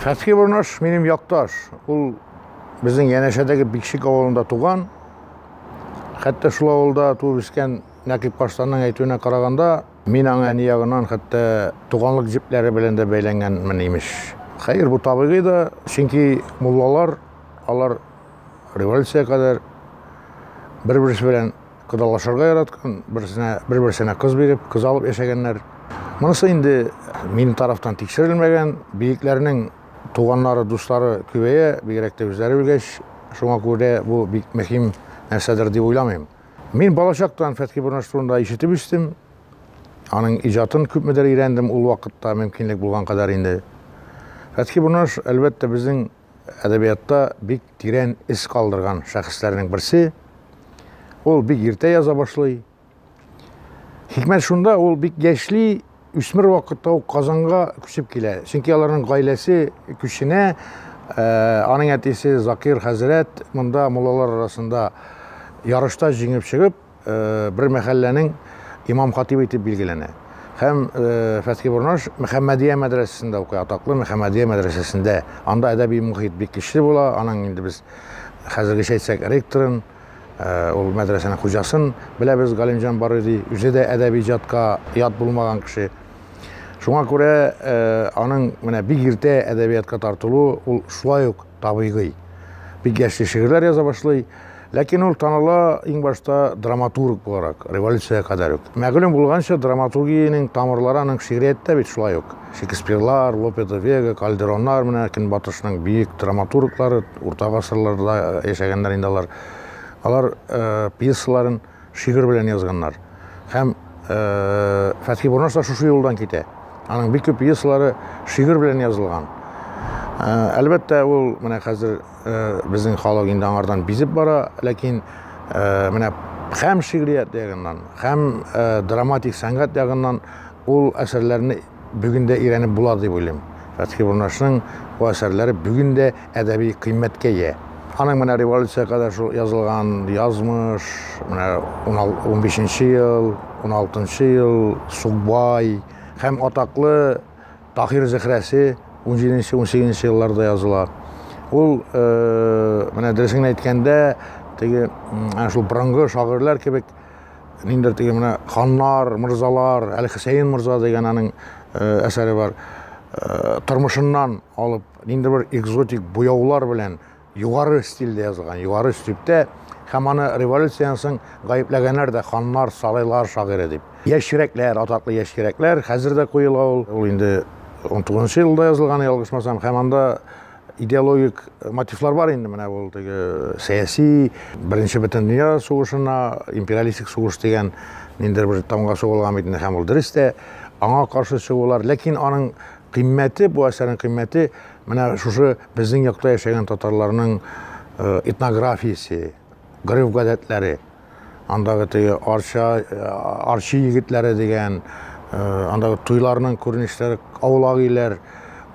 Хәтке Борнаш минем якташ. Ул безнең янәшәдәге Бикшик авылында туган. Хәтта шул авылда туып үскән Нәкыйп Каштанның әйтүенә караганда, Мин аңа әни ягыннан хәтта туганлык җепләре белән дә бәйләнгәнмен, имеш. Хәер, бу табигый да, чөнки муллалар, алар революциягә кадәр бер-берсе белән кодалашырга яраткан, берсенә, бер-берсенә кыз биреп, кыз алып яшәгәннәр. Монысы инде минем тарафтан тикшерелмәгән, бөекләрнең туганнары, дуслары күбәя, бигрәк тә үзләре үлгәч, шуңа күрә бу бик мөһим нәрсәдер дип уйламыйм. Мин балачактан Фәтхи Бурнаш турында ишетеп үстем. Аның иҗатын күпмедер өйрәндем ул вакытта, мөмкинлек булган кадәр инде. Фәтхи Бурнаш, әлбәттә, безнең әдәбиятта бик тирән эз калдырган шәхесләрнең берсе. Ул бик иртә яза башлый. Хикмәт шунда, ул бик яшьли, үсмер вакытта ук Казанга күчеп килә. Чөнки аларның гаиләсе күченә, э, аның әтисе Закир хәзрәт монда муллалар арасында ярышта җиңеп чыгып, э, бер мәхәлләнең имам-хатибы итеп билгеләнә. Һәм э, Фәтхи Бурнаш Мөхәммәдия мәдрәсәсендә укый, атаклы Мөхәммәдия мәдрәсәсендә. Анда әдәби мөхит бик көчле була, аның инде без хәзергечә әйтсәк ректорын Ул мәдрәсәнең хуҗасын беләбез, Галимҗан Барый ди. Үзе дә әдәби иҗатка ят булмаган кеше. Шуңа күрә аның менә бик иртә әдәбиятка тартылуы ул шулай ук табигый. Бик яшьли шигырьләр яза башлый. Ләкин ул таныла иң башта драматург буларак, революциягә кадәр үк. Мәгълүм булганча, драматургиянең тамырлары аның шигърияттә бит шулай ук. Шекспирлар, Лопе де Вега, Кальдероннар, менә Көнбатышның биек драматурглары, урта гасырларда яшәгәннәр инде алар. Алар пьесаларын шигырь белән язганнар. Һәм Фәтхи Бурнаш та шушы юлдан китә. Аның бик күп пьесалары шигырь белән язылган. Әлбәттә, ул менә хәзер безнең халык инде аңардан бизеп бара, ләкин менә һәм шигърият ягыннан, һәм драматик сәнгать ягыннан Ул әсәрләрне бүген дә өйрәнеп була дип уйлыйм. Фәтхи Бурнашның бу әсәрләре бүген дә әдәби кыйммәткә ия. Аның менә революциягә кадәр шул язылган Язмыш, менә унбишенче ел, уналтынчы ел, Сукбай һәм атаклы Таһир Зөһрәсе унҗиденче, унсигезенче елларда языла. Ул, менә дөресен генә әйткәндә, теге, әнә шул борынгы шагыйрьләр кебек, ниндер теге менә ханнар, мырзалар, әле Хөсәен мырза дигән аның э, әсәре бар. Э, тормышыннан алып, ниндер бер экзотик буяулар белән югары стильдә язылган, югары өстептә һәм аны революцияннән соң гаепләгәннәр дә ханнар, сарайлар шагыйре дип. Яшь йөрәкләр, атаклы яшь йөрәкләр, хәзер дә куела ул. Ул инде 19 елда язылган, ялгышмасам, һәм анда идеологик мотивлар бар инде менә ул теге э, сәяси беренче бөтен дөнья сугышына империалистик сугыш дигән ниндидер бер тамга сугылган бит инде һәм ул дөрес тә аңа каршы чыгулар ләкин аның кыйммәте бу әсәрнең кыйммәте менә шушы безнең якта яшәгән татарларның э, этнографиясе гореф гадәтләре андагы теге Арча, Арчи егетләре дигән, андагы туйларның күренешләре, аулак иләр,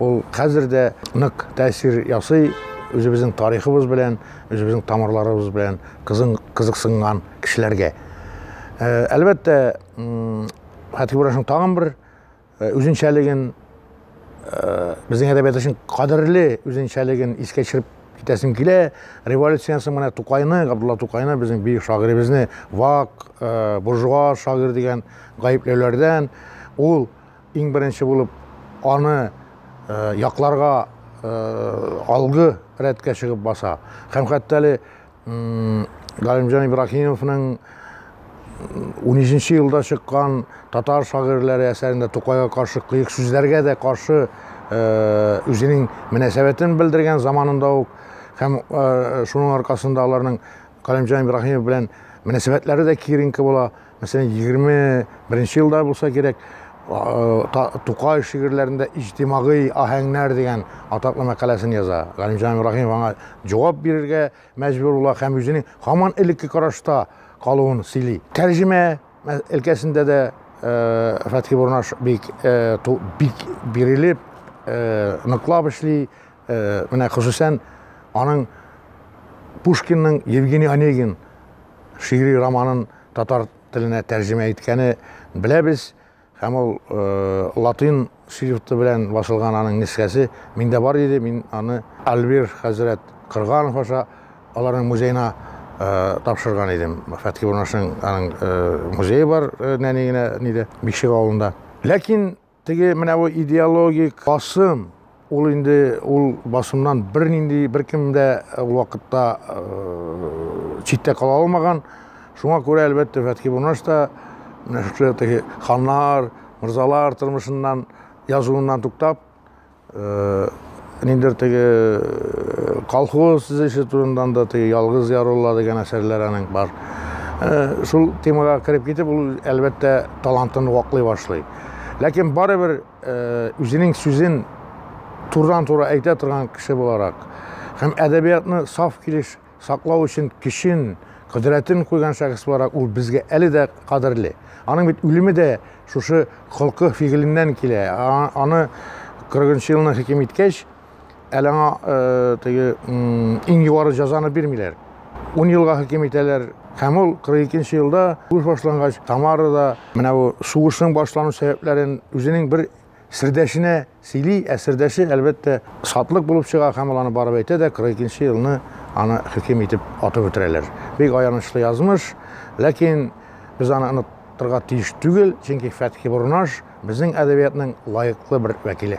ул хәзер дә нык тәэсир ясый үзебезнең тарихыбыз белән, үзебезнең тамырларыбыз белән кызын кызыксынган кешеләргә. Әлбәттә, Хәтибрашның тагын бер Э, үзенчәлеген э, безнең әдәбият өчен кадерле үзенчәлеген искә төшереп китәсем килә. Революциянән соң менә Тукайны, Габдулла Тукайны, безнең бөек шагыйребезне вак, э, буржуа шагыйрь дигән гаепләүләрдән ул иң беренче булып аны якларга алгы рәткә чыгып баса. Һәм хәтта әле Галимҗан Ибраһимовның 13 нче елда чыккан татар шагыйрьләре әсәрендә Тукайга каршы кыек сүзләргә дә каршы э, үзенең мөнәсәбәтен белдергән заманында ук һәм э, шуның аркасында аларның Галимҗан Ибраһимов белән мөнәсәбәтләре дә киеренке була. Мәсәлән, егерме беренче елда булса кирәк, Тукай шигырьләрендә иҗтимагый аһәңнәр дигән атаклы мәкаләсен яза. Галимҗан Ибраһимов аңа җавап бирергә мәҗбүр була һәм үзенең һаман элекке карашта калуын сөйли. Тәрҗемә өлкәсендә дә Фәтхи Бурнаш бик бик бирелеп, ныклап эшли. Менә хосусән аның Пушкинның Евгений Онегин шигъри романын татар теленә тәрҗемә иткәне беләбез һәм ул э, латин шрифты белән басылган аның нескәсе миндә бар иде мин аны альбир хәзрәт кырганов аша аларның музеена э, тапшырган идем фәтхи урнашның аның э, музее бар э, нәни генә ниде бикшек авылында ләкин Теге менә бу идеологик басым, ул инде ул басымнан бернинди беркем дә ул вакытта читтә кала алмаган. Шуңа күрә, әлбәттә, Фәтхи Бурнаш та менә шушы теге ханнар, мырзалар тормышыннан, язуыннан туктап, Ниндер теге колхоз төзеше турыннан да теге ялгыз ярулла дигән әсәрләр аның бар. Шул темага кереп китеп, ул әлбәттә талантын ваклый башлый. Ләкин барыбер үзенең сүзен турыдан-туры әйтә торган кеше буларак һәм әдәбиятны саф килеш Саклау өчен көчен, кодрәтен куйган шәхес буларак ул безгә әле дә кадерле. Аның бит үлеме дә шушы холкы-фигыленнән килә. Аны 40 нчы елны хөкем иткәч, әле аңа теге иң югары җәзаны бирмиләр. Ун елга хөкем итәләр, Һәм ул 42 елда сугыш башлангач, Тамарада менә бу сугышның башлану сәбәпләрен үзенең бер сердәшенә Сөйли, ә сердәше, әлбәттә, Сатлык булып чыга һәм ул аны барып әйтә дә, 42 елны аны хөкем итеп атып үтерәләр. Бик аянычлы язмыш, ләкин без аны оныттырга тиеш түгел, чөнки Фәтхи Борнаш, безнең әдәбиятның лаеклы бер вәкиле.